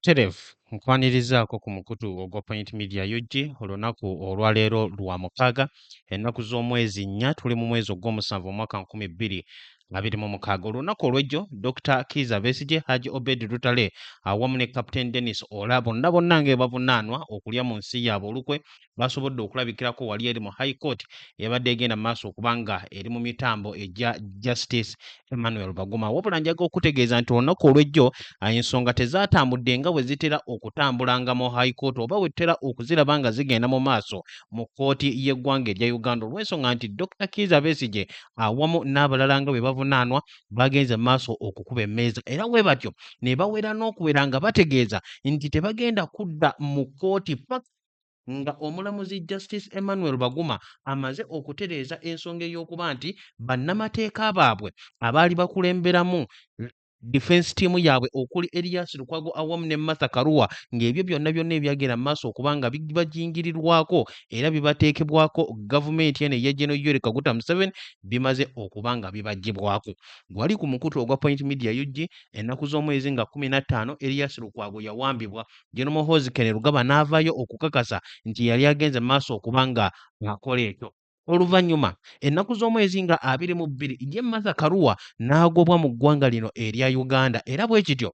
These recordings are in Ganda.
Terevu nkwanirizaako ku mukutu ogwa Point Media UG olunaku olwaleero lwa mukaaga ennaku z'omwezi nnya tuli mu mwezi ogw'omusanvu omwaka nkumi bbiri abiri mu mukaaga olunaku olw'ejjo dr kiiza besigye haji obed lutale awamu ne captain denis ola bonna bonna nga ebavunaanwa okulya mu nsi yaabwe olukwe basobodde okulabikirako wali eri mu high court ebadde egenda mu maaso okubanga eri mu mitambo egya justice emmanuel baguma wabula njaga okutegeeza nti olunaku olw'ejjo ensonga tezaatambudde nga bwe zitera okutambulanga mu high court oba wetera okuziraba nga zigenda mu maaso mu kkooti y'eggwanga erya uganda olw'ensonga nti dr kiiza besigye awamu n'abalala nga bwe bavunaanwa bagenze mu maaso okukuba emmeeza era bwe batyo ne bawera n'okuwera nga bategeeza nti tebagenda kudda mu kkooti paka nga omulamuzi justice emmanuel baguma amaze okutereeza ensonga ey'okuba nti bannamateeka baabwe abaali bakulemberamu defense team yaabwe okuli Elias Lukwago awamu ne Martha Karua ng'ebyo byonna byonna ebyagenda mu maaso okuba nga bibajingirirwako era bibateekebwako gavumenti eno eya General Yoweri Kaguta Museveni bimaze okuba nga bibaggyibwako. Gwali ku mukutu ogwa Point Media UG ennaku z'omwezi nga kkumi na ttaano Elias Lukwago yawambibwa General Muhoozi Kainerugaba n'avaayo okukakasa nti yali agenze mu maaso okuba nga akola ekyo. Oluvannyuma ennaku z'omwezi nga abiri mu bbiri ye Martha Karua n'agobwa mu ggwanga lino erya Uganda era bwe kityo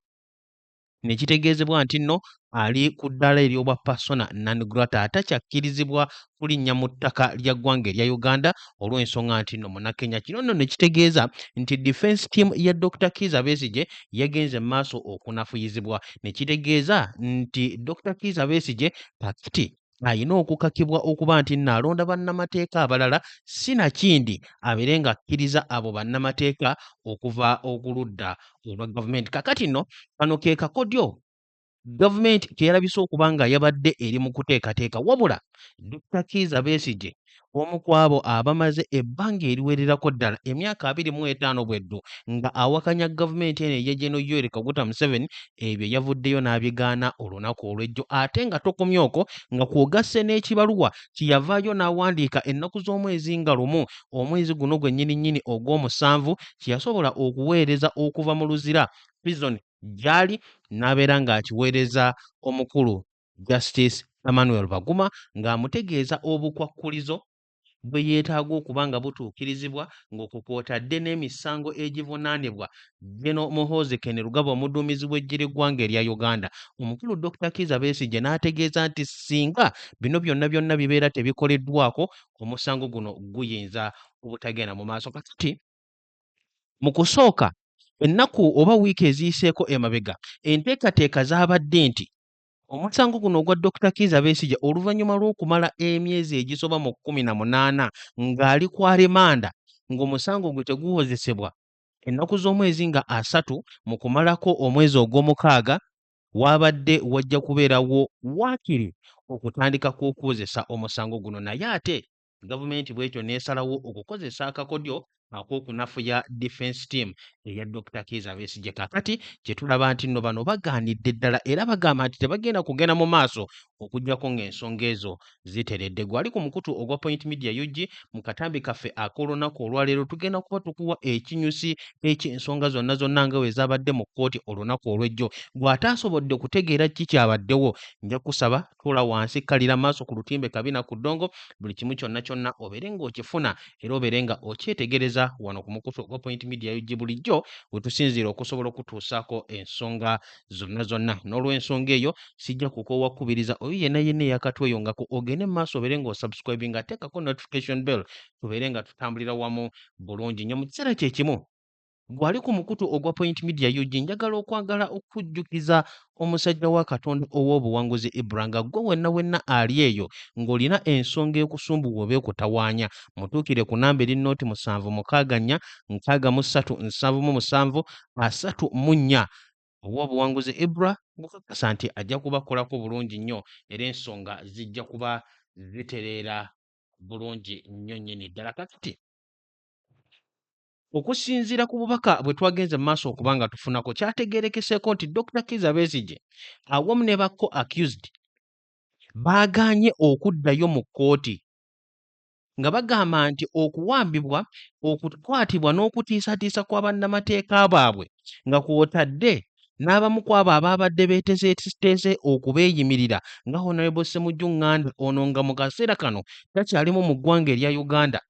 ne kitegeezebwa nti nno ali ku ddaala ery'obwa persona non grata atakyakkirizibwa kulinnya mu ttaka lya ggwanga erya Uganda olw'ensonga nti nno Munakenya. Kino nno ne kitegeeza nti defence team ya Dr. Kiiza Besigye yagenze mu maaso okunafuyizibwa ne kitegeeza nti Dr. Kiiza Besigye kakiti alina okukakibwa okuba nti nno alonda bannamateeka abalala si nakindi abeere nga akkiriza abo bannamateeka okuva okuludda olwa gavumenti kakati nno kano ke kakodyo gavumenti keyalabise okuba nga yabadde eri mu kuteekateeka wabula dokita kiiza besigye omu ku abo abamaze ebbanga eriwererako ddala emyaka abiri mu etaano bweddu nga awakanya gavumenti eno eya Gen Yoweri Kaguta Museveni ebyo yavuddeyo n'abigaana olunaku olw'ejjo ate nga tokomye okwo nga kwogasse n'ekibaluwa kyeyavaayo n'awandiika ennaku z'omwezi nga lumu omwezi guno gwennyini nnyini ogw'omusanvu kyeyasobola okuweereza okuva mu Luzira prison gyali n'abeera ng'akiweereza omukulu Justice Emmanuel Baguma ng'amutegeeza obukwakkulizo bwe yeetaaga okuba nga butuukirizibwa ng'okwo kw'otadde n'emisango egivunaanibwa Gen. Muhoozi Kainerugaba omuduumizi w'eggye ly'eggwanga erya Uganda. Omukulu Dokita Kiiza Besigye n'ategeeza nti ssinga bino byonna byonna bibeera tebikoleddwako, omusango guno guyinza obutagenda mu maaso. Kakati mu kusooka ennaku oba wiiki eziyiseeko emabega enteekateeka zaabadde nti Omusango guno ogwa Dokita Kiiza Besigye oluvannyuma lw'okumala emyezi egisoba mu kkumi na munaana ng'ali ku alemanda ng'omusango gwe teguwozesebwa ennaku z'omwezi nga asatu mu kumalako omwezi ogw'omukaaga waabadde wajja kubeerawo waakiri okutandika kw'okuwozesa omusango guno naye ate Gavumenti bwetyo n'esalawo okukozesa akakodyo ak'okunafuya defense team eya Dokita Kiiza Besigye kakati kye tulaba nti nno bano bagaanidde ddala era bagamba nti tebagenda kugenda mu maaso okuggyako ng'ensonga ezo ziteredde. Gwali ku mukutu ogwa Point Media UG mu katambi kaffe ak'olunaku olwaleero tugenda kuba tukuwa ekinyusi eky'ensonga zonna zonna nga bwe zaabadde mu kkooti olunaku olw'ejjo. Gw'ataasobodde kutegeera kiki kyabaddewo nja kusaba tuula wansi kkalira maaso ku lutimbe kabina ku ddongo buli kimu kyonna kyonna obeere ng'okifuna era obeere nga okyetegereza wano ku mukutu ogwa point media ug bulijjo we tusinziira okusobola okutuusaako ensonga zonna zonna n'olw'ensonga eyo sijja kukoowa kukubiriza oyo yenna yenna eyakatweyongako ogende mu maaso obeere ng'osubscribing ateekako notification bell tubeere nga tutambulira wamu bulungi nnyo mu kiseera kye kimu Gwali ku mukutu ogwa Point Media UG njagala okwagala okujjukiza omusajja wa Katonda ow'obuwanguzi Ibra nga gwe wenna wenna ali eyo ng'olina ensonga ekusumbuwa oba ekutawaanya mutuukire ku namba eri nooti musanvu mukaaga nnya nkaaga mu ssatu nsanvu mu musanvu asatu mu nnya ow'obuwanguzi Ibra gukakasa nti ajja kubakolako bulungi nnyo era ensonga zijja kuba zitereera bulungi nnyo nnyini ddala kakati Okusinziira ku bubaka bwe twagenze mu maaso okuba nga tufunako kyategeerekeseeko nti Dokita Kiiza Besigye awamu ne ba co accused baagaanye okuddayo mu kkooti nga bagamba nti okuwambibwa okukwatibwa n'okutiisatiisa kwa bannamateeka baabwe nga kwotadde n'abamu ku abo abaabadde beetezeeteeze okubeeyimirira nga honarebo ssemujju nganda ono nga mu kaseera kano takyalimu mu ggwanga erya uganda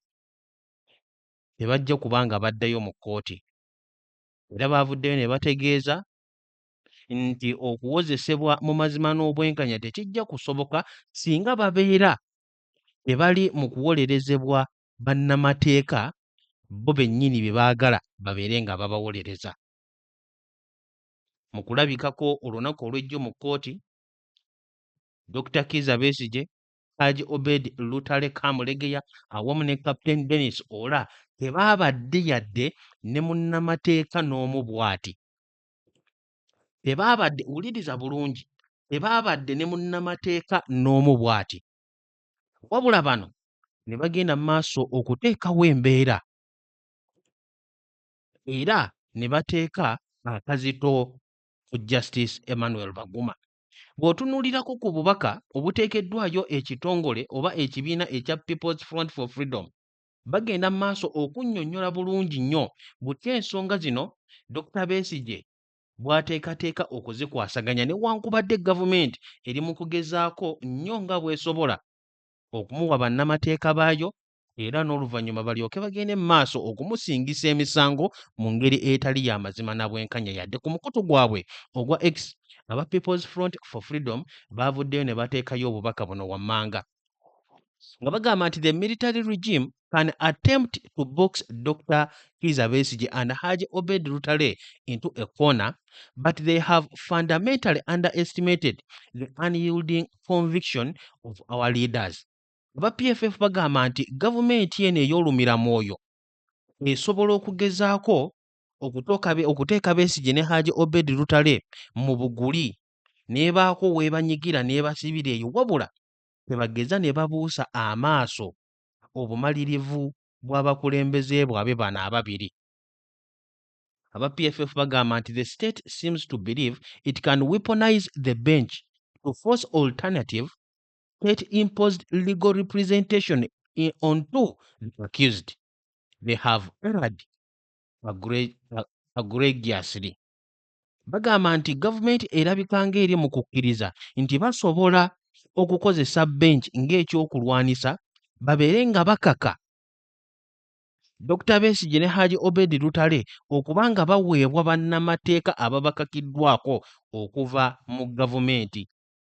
tebajja kuba nga baddayo mu kkooti era baavuddeyo ne bategeeza nti okuwozesebwa mu mazima n'obwenkanya tekijja kusoboka singa babeera tebali mu kuwolerezebwa bannamateeka bo bennyini bye baagala babeere nga babawolereza mu kulabikako olunaku olw'ejjo mu kkooti Dokita Kiiza Besigye Haji Obed Lutale Kamulegeya awamu ne Captain Dennis Ola tebaabadde yadde ne munnamateeka n'omu bwati tebaabadde wuliriza bulungi tebaabadde ne munnamateeka n'omu bwati wabula bano ne bagenda mu maaso okuteekawo embeera era ne bateeka akazito ku Justice Emmanuel Baguma Bw'otunuulirako ku bubaka obuteekeddwayo ekitongole oba ekibiina ekya People's Front for Freedom, bagenda mu maaso okunnyonnyola bulungi nnyo butya ensonga zino Dokita Besigye bw'ateekateeka okuzikwasaganya newankubadde gavumenti eri mu kugezaako nnyo nga bw'esobola okumuwa bannamateeka baayo era n'oluvannyuma balyoke bagende mu maaso okumusingisa emisango mu ngeri etali ya mazima na bwenkanya yadde ku mukutu gwabwe ogwa X aba People's Front for Freedom baavuddeyo ne bateekayo obubaka buno wammanga nga bagamba nti the military regime can attempt to box Dr. Kiza Besigye and Haji Obed Lutale into a corner, but they have fundamentally underestimated the unyielding conviction of our leaders. Aba PFF bagamba nti gavumenti eno ey'olumira mwoyo esobola okugezaako okuteeka Besigye ne Haji Obed Lutale mu buguli n'ebaako w'ebanyigira n'ebasibira eyo wabula tebageza ne babuusa amaaso obumalirivu bw'abakulembeze bwabwe bano ababiri. Aba PFF bagamba nti the state seems to believe it can weaponize the bench to force alternative state imposed legal representation in, on to the accused. They have erred agregiously. Bagamba nti gavumenti erabika ng'eri mu kukkiriza nti basobola okukozesa bench ng'ekyokulwanisa babeere nga bakaka Dr. Besigye ne Haji Obedi Lutale okuba nga baweebwa bannamateeka ababakakiddwako okuva mu gavumenti.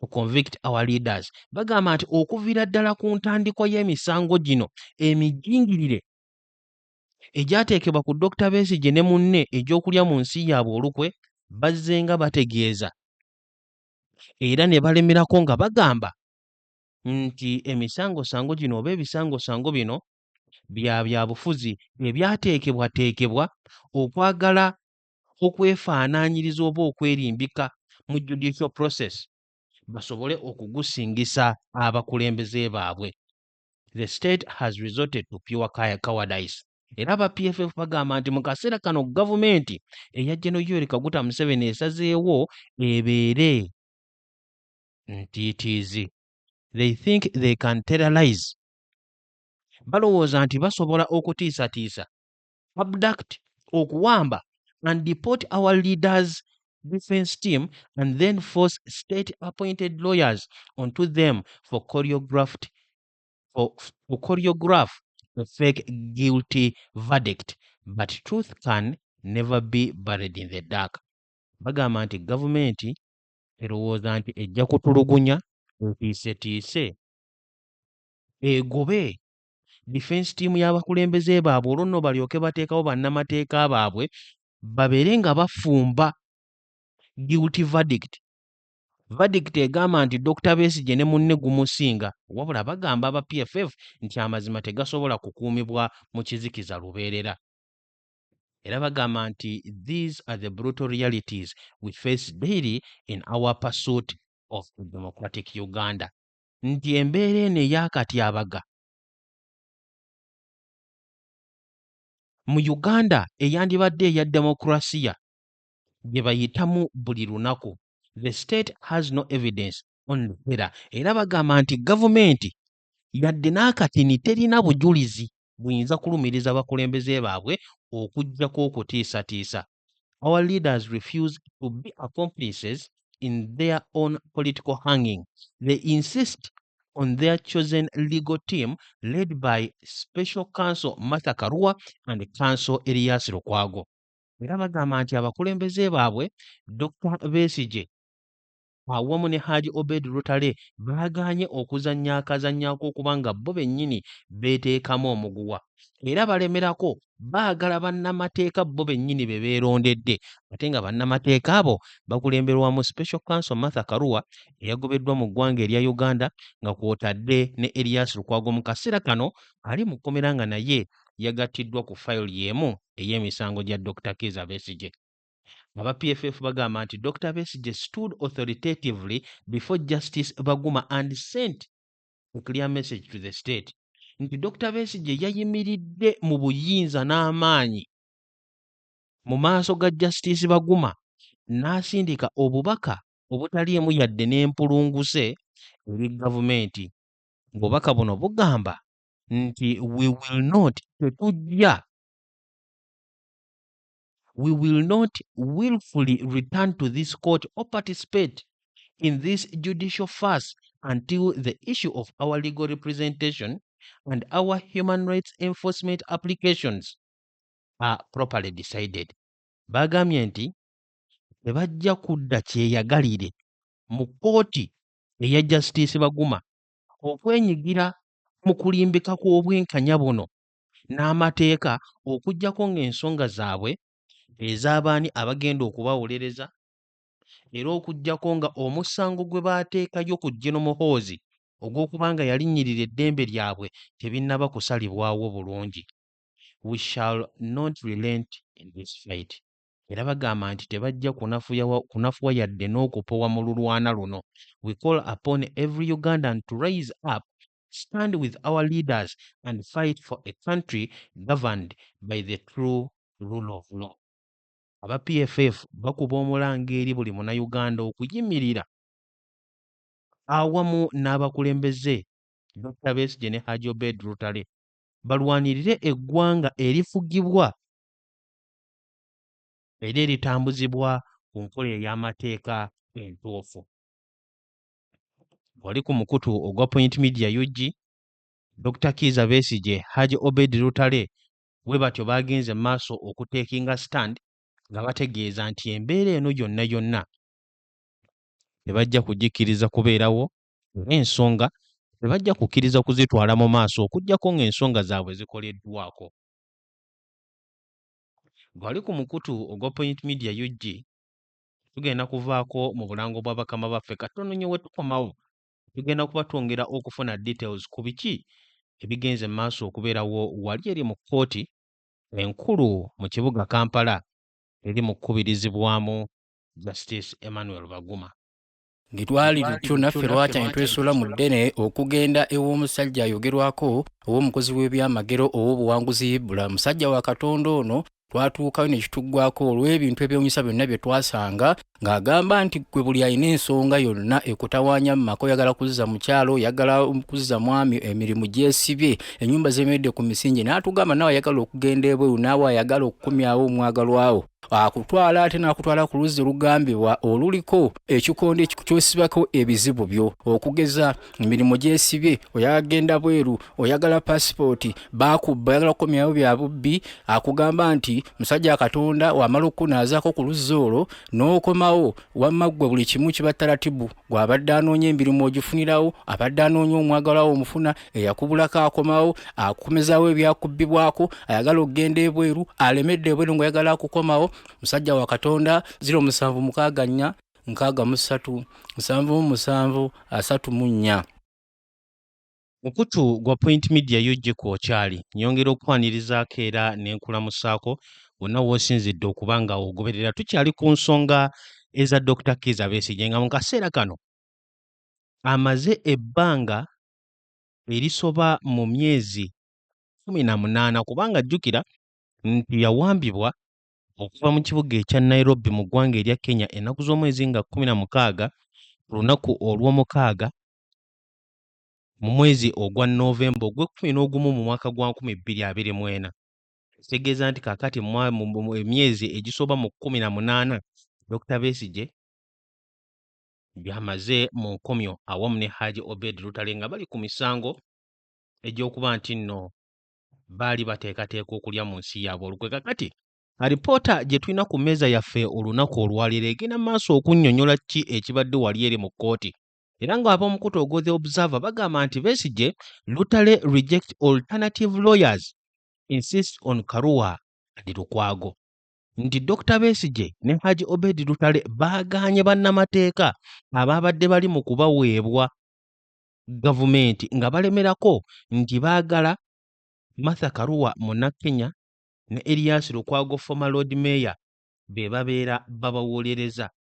to convict our leaders bagamba nti okuviira ddala ku ntandikwa y'emisango gino emijingirire egyateekebwa ku dokita besigye ne munne egy'okulya mu nsi yaabwe olukwe bazzenga bategeeza era ne balemerako nga bagamba nti emisangosango gino oba ebisangosango bino bya byabufuzi ebyateekebwateekebwa okwagala okwefaanaanyiriza oba okwerimbika mu judicial process basobole okugusingisa abakulembeze baabwe the state has resorted to pure cowardice era aba pff bagamba nti mu kaseera kano gavumenti eya geno yoweri kaguta museveni esazeewo ebeere ntiitiizi they think they can terrorize balowooza nti basobola okutiisatiisa abduct okuwamba and deport our leaders defense team and then force state appointed lawyers onto them for choreographed for, for choreograph a fake guilty verdict but truth can never be buried in the dark bagamba nti gavumenti erowooza nti ejja kutulugunya etiisetiise egobe defense team y'abakulembeze baabwe olwo nno balyoke bateekawo bannamateeka baabwe babeere nga bafumba guilty verdict verdict egamba nti dr besigye ne munne gumusinga wabula bagamba aba pff nti amazima tegasobola kukuumibwa mu kizikiza lubeerera era bagamba nti these are the brutal realities we face daily in our pursuit of democratic uganda nti embeera eno ey'akatyabaga mu Uganda eyandibadde eya demokulasiya gye bayitamu buli lunaku the state has no evidence on the era era bagamba nti gavumenti yadde n'akatini terina bujulizi buyinza kulumiriza bakulembeze baabwe okuggyako okutiisatiisa. Our leaders refuse to be accomplices in their own political hanging. They insist on their chosen legal team led by Special Counsel Martha Karua and Counsel Elias Lukwago. Era bagamba nti abakulembeze baabwe Dr. Besigye awamu ne Haji Obed Lutale baagaanye okuzannya akazannyo ak'okuba nga bo bennyini beeteekamu omuguwa era balemerako baagala bannamateeka bo bennyini be beerondedde ate nga bannamateeka abo bakulemberwamu Special Counsel Martha Karua eyagobeddwa mu ggwanga erya Uganda nga kw'otadde ne Erias Lukwago mu kaseera kano ali mu kkomera nga naye yagattiddwa ku fayiro y'emu ey'emisango gya Dokita Kiiza Besigye. Aba PFF bagamba nti Dokita Besigye stood authoritatively before Justice Baguma and sent a clear message to the state nti Dokita Besigye yayimiridde mu buyinza n'amaanyi mu maaso ga Justice Baguma n'asindika obubaka obutaliimu yadde n'empulunguse eri gavumenti ng'obubaka buno bugamba nti we will not tetujja we will not willfully return to this court or participate in this judicial farce until the issue of our legal representation and our human rights enforcement applications are properly decided bagambye nti tebajja kudda kyeyagalire mu kkooti eya justice baguma okwenyigira mu kulimbika kw'obwenkanya buno n'amateeka okuggyako ng'ensonga zaabwe ez'abaani abagenda okubawolereza era okuggyako nga omusango gwe baateekayo ku Gen Muhoozi ogw'okuba nga yalinnyirira eddembe lyabwe tebinnaba kusalibwawo bulungi we shall not relent in this fight era bagamba nti tebajja kunafuwa yadde n'okupowa mu lulwana luno we call upon every Ugandan to rise up stand with our leaders and fight for a country governed by the true rule of law. Aba PFF bakuba omulanga eri buli munayuganda okuyimirira awamu n'abakulembeze Dr. Besigye ne Haji Obed Lutale balwanirire eggwanga erifugibwa era eritambuzibwa ku nkola ey'amateeka entuufu. wali ku mukutu ogwa Point Media UG, Dokita Kiiza Besigye, Haji Obedi Lutale bwe batyo baagenze mu maaso okuteekinga stand nga bategeeza nti embeera eno yonna yonna tebajja kugikkiriza kubeerawo era ensonga tebajja kukkiriza kuzitwala mu maaso okuggyako ng'ensonga zaabwe zikoleddwako. Gwali ku mukutu ogwa Point Media UG, tugenda kuvaako mu bulango bwa bakama baffe katono nyo wetukomawo tugenda kuba twongera okufuna details ku biki ebigenze mu maaso okubeerawo wali eri mu kkooti enkulu mu kibuga kampala eri mu kukubirizibwamu justice emmanuel baguma Bwe twali lutyo naffe lwakyanye twesula mu ddene okugenda ew'omusajja ayogerwako ow'omukozi w'ebyamagero ow'obuwanguzi Ibula. Musajja wa Katonda ono twatuukayo ne kituggwako olw'ebintu ebyewunyisa byonna bye twasanga ng'agamba nti gwe buli alina ensonga yonna ekutawaanya mu maka oyagala kuzza mukyalo oyagala kuzza mwami emirimu gyesibye ennyumba zemeredde ku misingi n'atugamba naawe ayagala okugenda ebweru naawe ayagala okukomyawo omwagalwawo akutwala ate n'akutwala ku luzzi olugambibwa oluliko ekikondo kyosibako ebizibu byo okugeza emirimu gyesibye oyagenda bweru oyagala pasipooti bakubba oyagala kukomyawo bya bubbi akugamba nti musajja katonda wamala okukunaazaako ku luzzi olwo n'okomawo wamma ggwe buli kimu kiba taratibu gwabadde anoonya emirimu ogifunirawo abadde anoonya omwagalawo omufuna eyakubulako akomawo akumezawo ebyakubbibwako ayagala okugenda ebweru alemedde ebweru ngaoyagala akukomawo musajja wa katonda ziro musanvu mukaaga nnya nkaaga mu ssatu musanvu mu musanvu asatu mu nnya mukutu gwa point media yo gye kwokyali nyongera okukwanirizaako era nenkulamusaako wonna woosinzidde okuba nga ogoberera tukyali ku nsonga eza dr kiza besigye nga mu kaseera kano amaze ebbanga erisoba mu myezi kkumi na munaana kubanga jjukira nti yawambibwa okuva mu kibuga ekya Nairobi mu ggwanga erya Kenya ennaku z'omwezi nga kkumi na mukaaga ku lunaku olw'omukaaga mu mwezi ogwa Noovemba ogw'ekkumi n'ogumu mu mwaka gwa nkumi bbiri abiri mu ena ekitegeeza nti kaakati emyezi egisoba mu kkumi na munaana Dokita Besigye byamaze mu nkomyo awamu ne Haji Obed Lutale nga bali ku misango egy'okuba nti nno baali bateekateeka okulya mu nsi yaabwe olukwe kakati alipoota gye tulina ku mmeeza yaffe olunaku olwaleero egenda mu maaso okunnyonnyola ki ekibadde wali eri mu kkooti era ng'ab'omukutu ogwo the observer bagamba nti besigye lutale reject alternative lawyers insist on karua and lukwago nti Dr Besigye ne Haji Obed Lutale baagaanye bannamateeka abaabadde bali mu kubaweebwa gavumenti nga balemerako nti baagala Martha Karua Munnakenya ne Erias Lukwago former Lord Mayor be babeera babawolereza.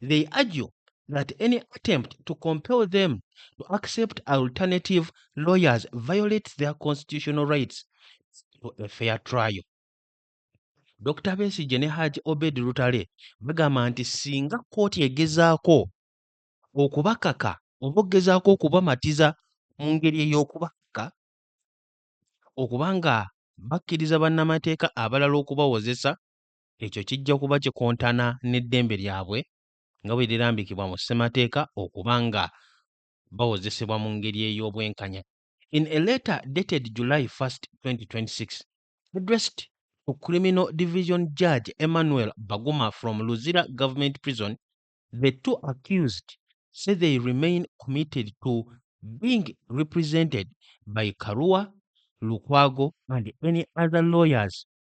They argue that any attempt to compel them to accept alternative lawyers violates their constitutional rights to a fair trial. Dr. Besigye ne Haji Obed Lutale bagamba nti singa kkooti egezaako okubakaka oba okugezaako okubamatiza mu ngeri ey'okubakaka okuba nga bakkiriza bannamateeka abalala okubawozesa ekyo kijja kuba kikontana n'eddembe lyabwe nga bwe lirambikibwa mu ssemateeka okuba nga bawozesebwa mu ngeri ey'obwenkanya in a letter dated july 1st 2026 addressed to criminal division judge emmanuel baguma from luzira government prison the two accused say they remain committed to being represented by karua lukwago and any other lawyers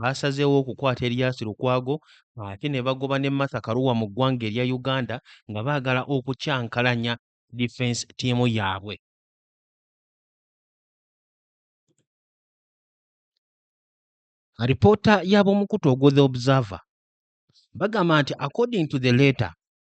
baasazeewo okukwata Erias Lukwago ate ne bagoba ne Martha Karua mu ggwanga erya Uganda nga baagala okukyankalanya difensi ttiimu yaabwe. Alipoota y'ab'omukutu ogwo The Observer bagamba nti according to the letter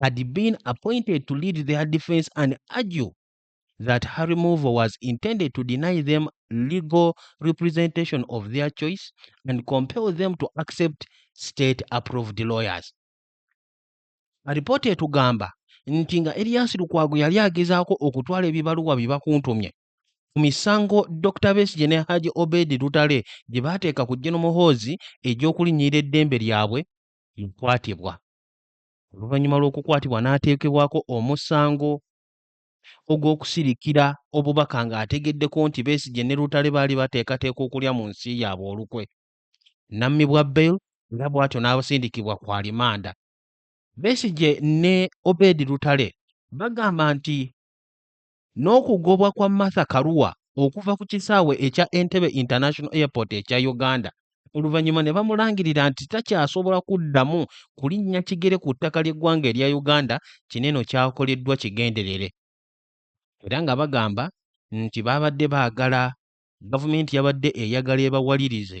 had been appointed to lead their defense and argue that her removal was intended to deny them legal representation of their choice and compel them to accept state approved lawyers alipoota etugamba nti nga eriyasi lukwago yali agezaako okutwala ebibaluwa bye bakuntumye ku misango dr besige ne haji obedi lutale gye baateeka ku jeno muhoozi egy'okulinnyirira eddembe lyabwe yakwatibwa oluvannyuma lw'okukwatibwa n'ateekebwako omusango ogw'okusirikira obubaka ng'ategeddeko nti Besigye ne Lutale baali bateekateeka okulya mu nsi yaabwe olukwe n'ammibwa bail era bw'atyo n'abasindikibwa ku alimanda. Besigye ne Obed Lutale bagamba nti N'okugobwa kwa Martha Karua okuva ku kisaawe ekya Entebbe International Airport ekya Uganda oluvannyuma ne bamulangirira nti takyasobola kuddamu kulinnya kigere ku ttaka ly'eggwanga erya Uganda kino eno kyakoleddwa kigenderere era nga bagamba nti baabadde baagala gavumenti yabadde eyagala ebawalirize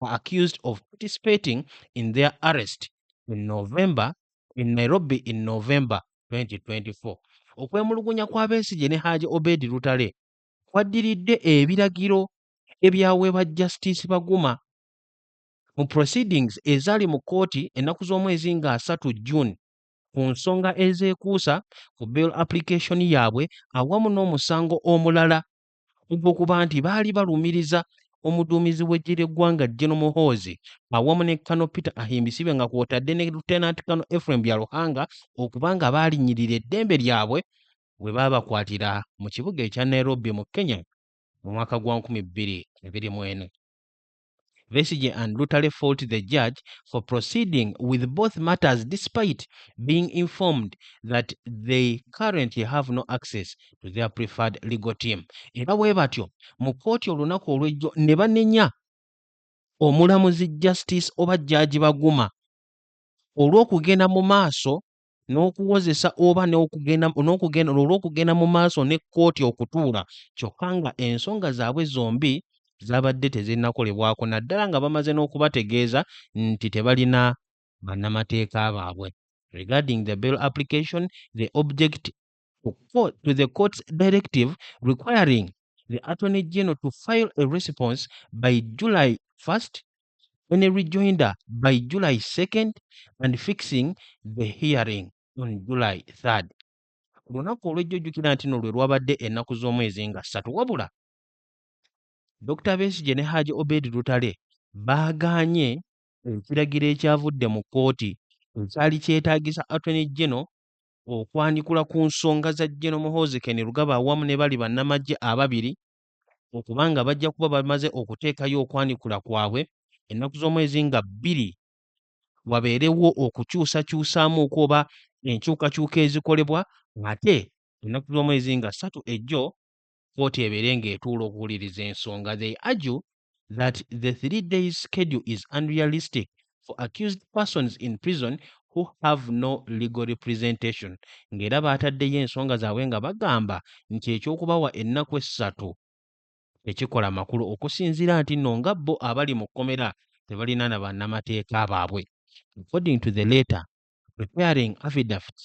were accused of participating in their arrest in November in Nairobi in November 2024. Okwemulugunya kwa Besigye ne Haji Obedi Lutale kwaddiridde ebiragiro ebyaweebwa Justice Baguma mu proceedings ezaali mu kkooti ennaku z'omwezi nga asatu June ku nsonga ezeekuusa ku bail application yaabwe awamu n'omusango omulala ogw'okuba nti baali balumiriza omuduumizi w'eggye ly'eggwanga Gen Muhoozi awamu ne Kano Peter Ahimbisibe nga kwotadde ne Lieutenant Kano Ephraim Byaruhanga okuba nga baalinyirira eddembe lyabwe we baabakwatira mu kibuga ekya Nairobi mu Kenya mu mwaka gwa 2024. Besigye and Lutale fault the judge for proceeding with both matters despite being informed that they currently have no access to their preferred legal team. Era bwe batyo mu kkooti olunaku olw'ejjo ne banenya omulamuzi Justice oba Judge Baguma olw'okugenda mu maaso n'okuwozesa oba n'okugenda olw'okugenda mu maaso ne kkooti okutuula kyokka nga ensonga zaabwe zombi zaabadde tezinnakolebwako naddala nga bamaze n'okubategeeza nti tebalina bannamateeka baabwe regarding the bail application the object to, court, to the court's directive requiring the Attorney General to file a response by July 1st and a rejoinder by July 2nd and fixing the hearing on July 3rd. Olunaku olw'ejjo jjukira nti no lwe lwabadde ennaku z'omwezi nga ssatu wabula Dr. Besigye ne Haji Obed Lutale baagaanye ekiragiro ekyavudde mu kkooti ekyali kyetaagisa Attorney General okwanjikula ku nsonga za Gen Muhoozi Kainerugaba awamu ne bali bannamagye ababiri okuba nga bajja kuba bamaze okuteekayo okwanjikula kwabwe ennaku z'omwezi nga bbiri wabeerewo okukyusakyusaamuuko oba enkyukakyuka ezikolebwa ate ennaku z'omwezi nga ssatu ejjo kkooti ebeere ng'etuula okuwuliriza ensonga they argue that the three days schedule is unrealistic for accused persons in prison who have no legal representation ng'era baataddeyo ensonga zaabwe nga bagamba nti eky'okubawa ennaku essatu tekikola makulu okusinziira nti nno nga bo abali mu kkomera tebalina na bannamateeka baabwe according to the letter preparing affidavits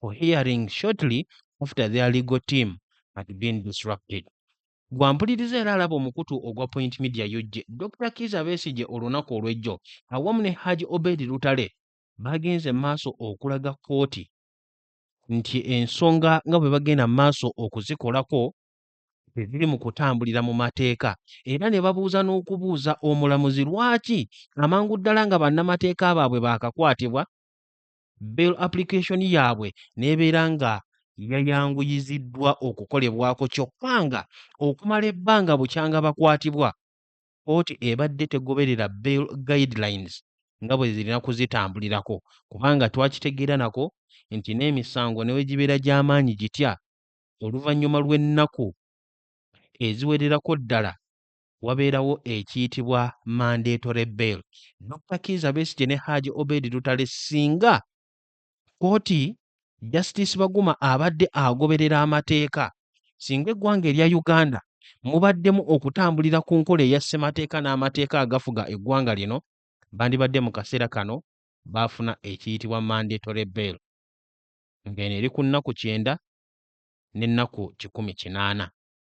for hearing shortly after their legal team had been disrupted. Gwampuliriza era alaba omukutu ogwa Point Media UG, Dr. Kiiza Besigye olunaku olw'ejjo awamu ne Haji Obedi Lutale bagenze maaso okulaga kkooti nti ensonga nga bwe bagenda maaso okuzikolako teziri mu kutambulira mu mateeka era ne babuuza n'okubuuza omulamuzi lwaki amangu ddala nga bannamateeka baabwe baakakwatibwa bail application yaabwe n'ebeera nga yayanguyiziddwa okukolebwako kyokka nga okumala ebbanga bukyanga bakwatibwa kkooti ebadde tegoberera bail guidelines nga bwe zirina kuzitambulirako kubanga twakitegeera nako nti n'emisango ne bwe gibeera gy'amaanyi gitya oluvannyuma lw'ennaku eziwererako ddala wabeerawo ekiyitibwa mandatory bail. Dr. Kiiza Besigye ne Haji Obed Lutale singa kkooti Justice Baguma abadde agoberera amateeka singa eggwanga erya Uganda mubaddemu okutambulira ku nkola eya ssemateeka n'amateeka agafuga eggwanga lino bandibadde mu kaseera kano baafuna ekiyitibwa mandatory bail ng'eno eri ku nnaku kyenda n'ennaku kikumi kinaana.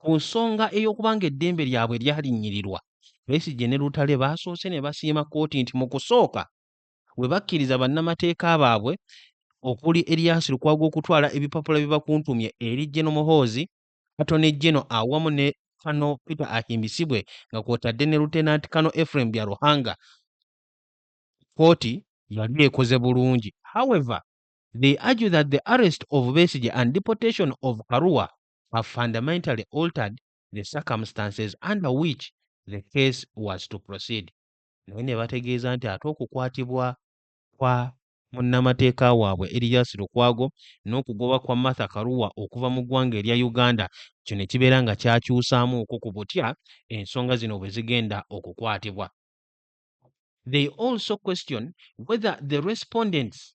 Ku nsonga ey'okubanga eddembe lyabwe lyalinnyirirwa, Besigye ne Lutale baasoose ne basiima kkooti nti mu kusooka bwe bakkiriza bannamateeka baabwe okuli Erias Lukwago okutwala ebipapula bye bakuntumye eri Gen Muhoozi, Attorney General awamu ne Colonel Peter Ahimbisibwe nga kw'otadde ne Lieutenant Colonel Ephraim Byaruhanga, kkooti yali ekoze bulungi. However, they argue that the arrest of Besigye and deportation of Karua have fundamentally altered the circumstances under which the case was to proceed naye ne bategeeza nti ate okukwatibwa kwa munnamateeka waabwe Erias Lukwago n'okugoba kwa Martha Karua okuva mu ggwanga erya Uganda kino kibeera nga kyakyusaamuuko ku butya ensonga zino bwe zigenda okukwatibwa. They also question whether the respondents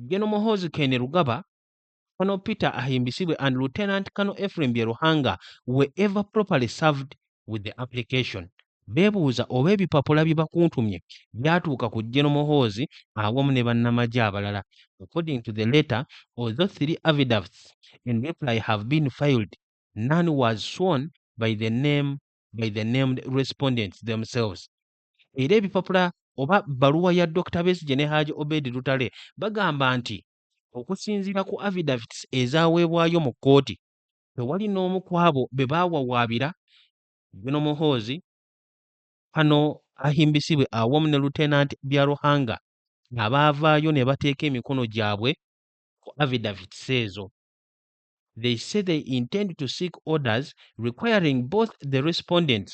General Muhoozi Kainerugaba Colonel Peter Ahimbisibwe and Lieutenant Colonel Ephraim Byeruhanga were ever properly served with the application. Beebuuza oba ebipapula bye bakuntumye byatuuka ku General Muhoozi awamu ne bannamagye abalala. According to the letter, although three affidavits in reply have been filed, none was sworn by the name by the named respondents themselves. Era ebipapula oba bbaluwa ya Dr. Besigye ne Haji Obed Lutale bagamba nti Okusinziira ku affidavits ezaaweebwayo mu kkooti, tewali n'omu ku abo be baawawaabira, Gen. Muhoozi, Kano Ahimbisibwe awamu ne Lieutenant Byaruhanga abaavaayo ne bateeka emikono gyabwe ku affidavits ezo. They say they intend to seek orders requiring both the respondents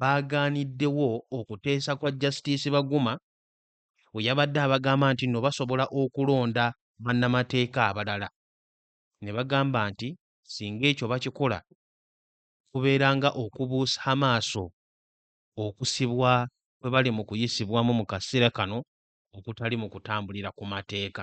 baagaaniddewo okuteesa kwa Justice Baguma we yabadde abagamba nti nno basobola okulonda bannamateeka abalala ne bagamba nti singa ekyo bakikola kubeera nga okubuusa amaaso okusibwa kwe bali mu kuyisibwamu mu kaseera kano okutali mu kutambulira ku mateeka.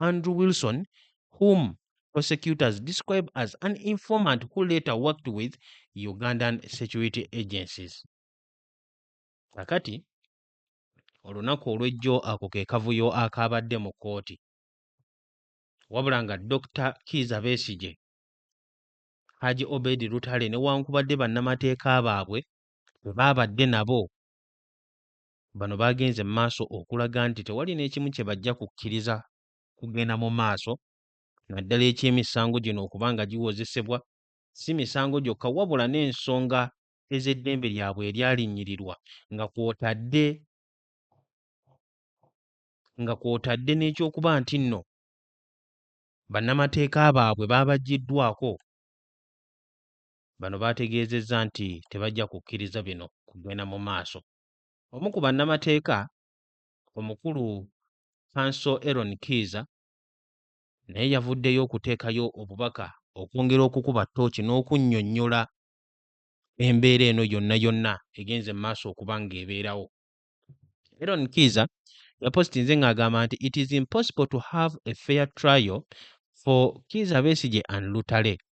Andrew Wilson, whom prosecutors describe as an informant who later worked with Ugandan security agencies. Kakati, olunaku olw'ejjo ako ke kavuyo akaabadde mu kkooti wabula nga dr kiiza besigye haji obedi lutale newankubadde bannamateeka baabwe bwe baabadde nabo Bano baagenze mu maaso okulaga nti tewali n'ekimu kye bajja kukkiriza kugenda mu maaso naddala eky'emisango gino okuba nga giwozesebwa si misango gyokka wabula n'ensonga ez'eddembe lyabwe eryalinnyirirwa nga kw'otadde nga kw'otadde n'eky'okuba nti nno bannamateeka baabwe baabaggyiddwaako Bano baategeezezza nti tebajja kukkiriza bino kugenda mu maaso. Omu ku bannamateeka omukulu Kanso Eron Kiiza naye yavuddeyo okuteekayo obubaka okwongera okukuba ttooki n'okunnyonnyola embeera eno yonna yonna egenze mu maaso okuba ng'ebeerawo. Eron Kiiza yapositinze ng'agamba nti it is impossible to have a fair trial for Kiiza Besigye and Lutale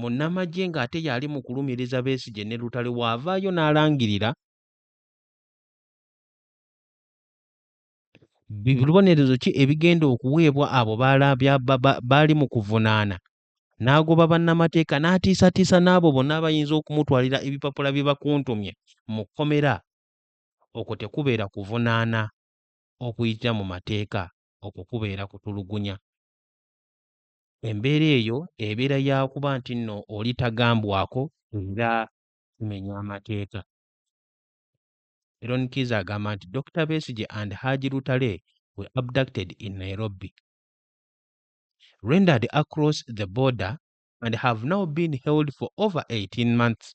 Munnamagye ng'ate y'ali mu kulumiriza Besigye ne Lutale w'avaayo n'alangirira bibonerezo ki ebigenda okuweebwa abo baali mu kuvunaana n'agoba bannamateeka n'atiisatiisa n'abo bonna abayinza okumutwalira ebipapula bye bakuntumye mu kkomera okwo tekubeera kuvunaana okuyitira mu mateeka okwo kubeera kutulugunya embeera eyo ebeera yakuba nti nno oli tagambwako era kimenya amateeka. Eron Kiiza agamba nti Dokita Besigye and Haji Lutale were abducted in Nairobi, rendered across the border and have now been held for over 18 months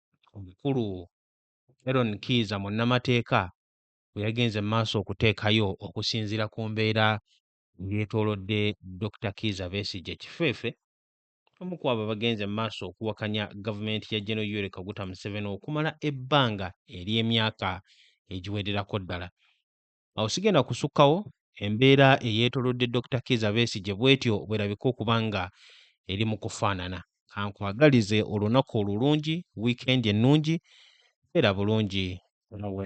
omukulu Eron Kiiza munnamateeka bwe yagenze mu maaso okuteekayo okusinziira ku mbeera eyeetoolodde Dokita Kiiza Besigye Kifeefe omu ku abo abagenze mu maaso okuwakanya gavumenti ya General Yoweri Kaguta Museveni okumala ebbanga ery'emyaka egiwererako ddala. Awo sigenda kusukkawo embeera eyeetolodde Dokita Kiiza Besigye bwetyo bwerabika okuba nga eri mu kufaanana. Kankwagalize olunaku olulungi, wiikendi ennungi, beera bulungi nawe.